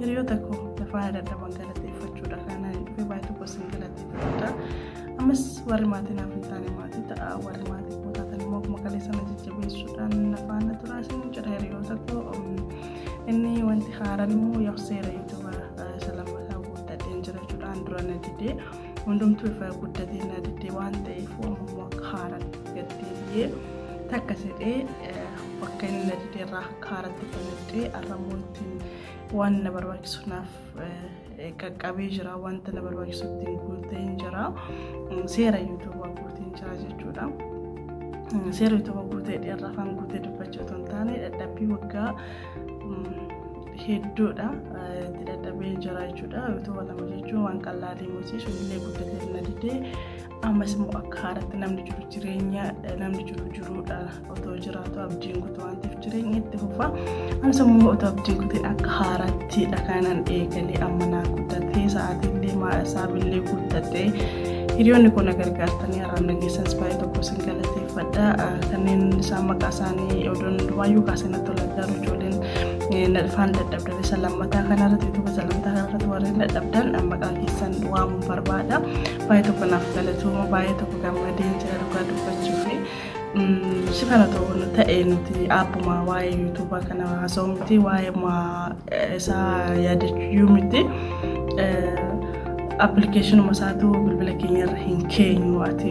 Hiriyoota koo lafaa yaadadhaban galateeffachuudha kana dhufe baay'ee tokko isin galateeffachuudha. Ammas warri maatii naaf hin taane maatii ta'a warri maatii koo taatan immoo akkuma kalee sana jajjabeessuudhaan na faana turaa isin jedha hiriyoota koo. Inni wanti haaraan immoo yoo seera yuutuuba isa lammataa guuttadheen jira jechuudhaan dura na didee hundumtuu ifa guddatee na didee waan ta'eef ammoo akka haaraan gaddeebi'ee takka jedhee bakka inni na didee irraa akka haaratti kan didee arramuun Waan na barbaachisu naaf qaqqabee jira. Wanta na barbaachisu ittiin guutee jira. Seera yuutuubaa guutee jira jechuudha. Seera yuutuubaa guutee dheeraa afaan guutee dubbachuu otoo hin taane dadhabbii waggaa hedduudha itti dadhabee jira jechuudha. Yuutuuba lama jechuun waan qal'aa deemuuti. Sunillee guddatee na didee ammas immoo akka haaraatti namni jiru jireenya namni jiru jiruudha otoo jiraatu abdiin kutu waan ta'eef jireenya itti fufa ammas immoo otoo abdiin kutiin akka haaraatti dhakaanan eegalee amma naa guddatee sa'aatiillee maasaabilillee guuttatee hiriyoonni kun na gargaartanii har'aan dhageessanis baay'ee tokko isin galateeffadha kanneen isaan maqaa isaanii odoon duwaayyuu kaasee natti tola garuu ijoolleen nadhafaan dadhabdan isa lammataa kanarratti tokko isa lammataa kanarratti warreen dadhabdan maqaa keessan waamuun barbaada Baay'ee tokko naaf galatooma baay'ee tokko gammadeen jira dhugaa dubbachuuf si kana ta'uun ta'e nuti abbuma waa'ee yuutuubaa kana haasa'u miti waa'ee isaa yaadachuu miti appilikeeshinuma isaatu bilbila keenya irra hin keenyu ati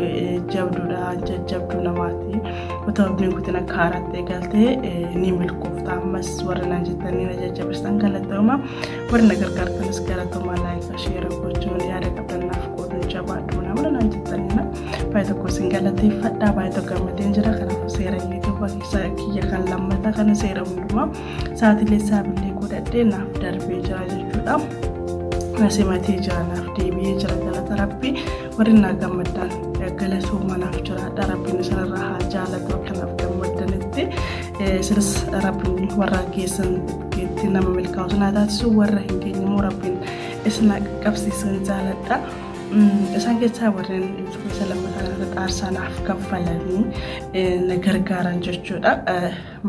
jabduudha jajjabduu namaati otoo abdiin kutin akka haaraatti eegaltee ni milkoofta ammas warra naan jettanii na jajjabeessitan galatooma Warri na gargaartanis galatoomaa laayika sheera gochuun yaada qabdan naaf qooduun jabaadhu nama lanaan jettaniina baay'ee tokko isin galateeffadhaa baay'ee tokko gammadeen jira kanaafuu seera yuutuuba keessaa kiyya kan lammataa kana seera hundumaa sa'aatilee saabilee godhadhee naaf darbee jira jechuudha. Nasi matee jira naaf deebi'ee jira galata rabbi warri naa gammaddaan galatooma naaf jiraadha rabbiin isinirraa haa jaalatu akka naaf gammaddanitti isinis rabbiin warra keessan itti nama milkaa'utu naa taasisu warra hin geenye immoo rabbiin isin haa qaqqabsiisan jaaladha. Isaan keessaa warreen isa lammataa irratti aarsaa naaf kaffalanii na gargaaran jechuudha.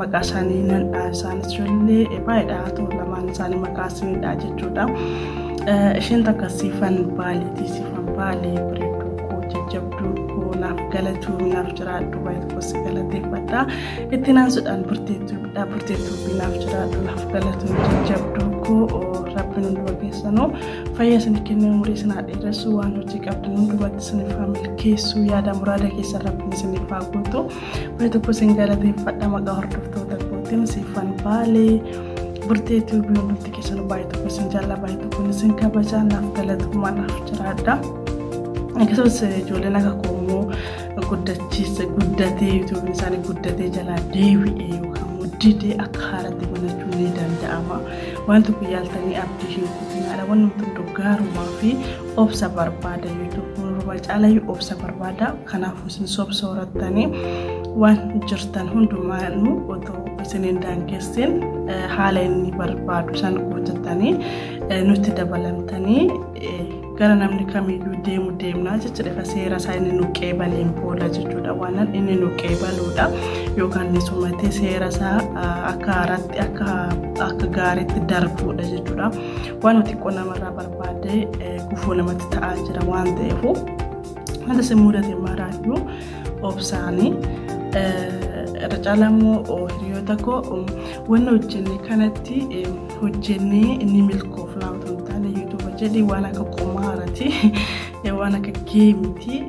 Maqaa isaanii nan dhaha isaanis ijoollee baay'eedha haa ta'u lamaan isaanii maqaa isaanii dhaha jechuudha. Isheen takka siifan baaleetii siifan baalee bareedduu koo jajjabduu koo naaf galatuun naaf jiraadhu baay'ee tokkos galateeffadha. Itti naansuudhaan burteettuudha. Burteettuufi naaf jiraadhu naaf galatu jajjabduu koo rabbiin hunduma keessanuu fayyaa isin kennee umurii isin haa dheeressu waan hojii qabdan hundumatti isiniif haa milkeessu yaada muraada keessan rabbiin isiniif haa guutu. Baay'ee tokko isin galateeffadha maqaa hordoftoota kootiin siifan baalee. Burtee tuubii hundumti keessanuu baay'ee tokko isin jaallaa baay'ee tokko isin kabajaa naaf galatu naaf jiraadha. Akkasumas ijoolleen akka koomoo guddachiise guddatee yuutuubiin isaanii guddatee jalaa deebi'ee yookaan muddidee akka haaratti banachuun ni danda'ama. Waan tokko yaaltanii abdii hin kutinaadha. Waan nuti hunduu gaarummaa fi obsa barbaada. Yuutuubiin caalayyuu obsa barbaada. Kanaafuu isin sobsa horattanii waan jirtan hundumaanuu otoo isin hin daangessin haala inni barbaadu san guuttattanii nutti dabalamtanii gara namni kamiyyuu deemu deemnaa jecha dhifa seera isaa inni nu qeebaliin booda jechuudha waanan inni nu qeebaluudha yookaan ni sumatee seera isaa akka haaraatti akka akka gaariitti darbuudha jechuudha waan xiqqoo namarraa barbaadee gufuu namatti ta'aa jira waan ta'eef wanta si mudate maraayyuu obsaanii irra caalaa immoo hiriyoota koo wanni hojjenne kanatti hojjennee inni milkoofnaa otoo hin taane yuutuuba jedhi waan akka qumaarati waan akka geemiti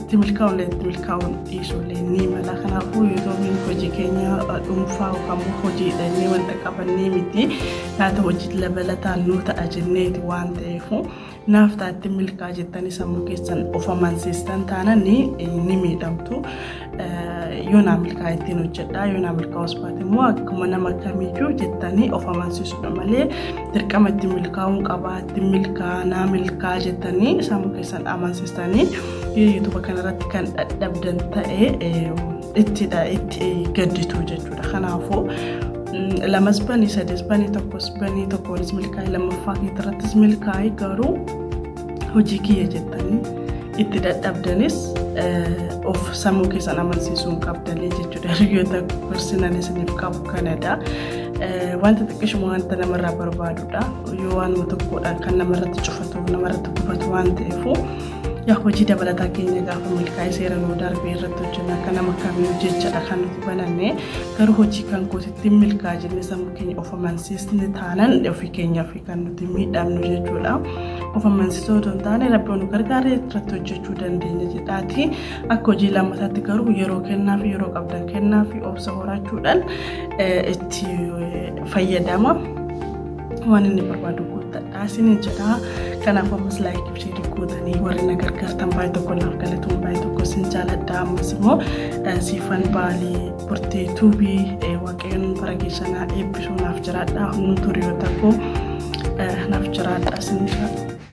itti milkaa'uun itti milkaa'uun dhiisuullee ni mala kanaafuu yuutuubiin hojii keenya dhuunfaa yookaan immoo hojiidhannee wanta qabannee miti laata hojii labalataan nuu ta'a jenneeti waan ta'eefu Naaf ta'a ittiin milkaa'a jettanii sammuu keessan of amansiistan taanaan ni miidhamtu. Yoo naa milkaa'a ittiin hojjedhaa yoo naa milkaa'us baate immoo akkuma nama kamiyyuu jettanii of amansiisudha malee dirqama ittiin milkaa'uun qabaa ittiin milkaa'a naa milkaa'a jettanii sammuu keessan amansiistanii yoo yuutuuba kanarratti kan dadhabdan ta'e ittidha itti gadditu jechuudha. Kanaafuu lamas banii sadis banii tokkos banii tokkoonis milkaa'e lammaffaa keetirrattis milkaa'e garuu hojii kiyya jettanii itti dadhabdanis of sammuu keessan amansiisuu hin qabdanii jechuudha. Hiriyoota gorsinan isiniif qabu kanadha. Wanta xiqqishuma wanta namarraa barbaadudha. Yoo waanuma tokkodha kan namarratti cufatu namarratti gubatu waan ta'eefu Yaa hojii dabalataa keenya gaafa milkaa'ee seera nuu darbee irratti hojjennu akka nama kamii jechaadha kan nuti bananne garuu hojii kan kootitti milkaa jenne sammuu keenya of amansiisne taanan ofii keenyaaf kan nuti miidhamnu jechuudha. Of amansiisuu otoo hin taane rabbi nu gargaaree irratti hojjechuu dandeenya jedhaati. Akka hojii lammataatti garuu yeroo kennaa fi yeroo qabdan kennaa fi obsa horachuudhaan itti fayyadama. waan inni barbaadu guuttadha isiniin jedha kanaaf ammas laayikii fi sheerii gootanii warri na gargaartan baay'ee tokko naaf galatuun baay'ee tokko isin jaaladha ammas immoo siifan baalii burtee tuubii waaqayyoon bara keessanaa eebbisuu naaf jiraadha hunduu turiyoota koo naaf jiraadha isin jiraadha.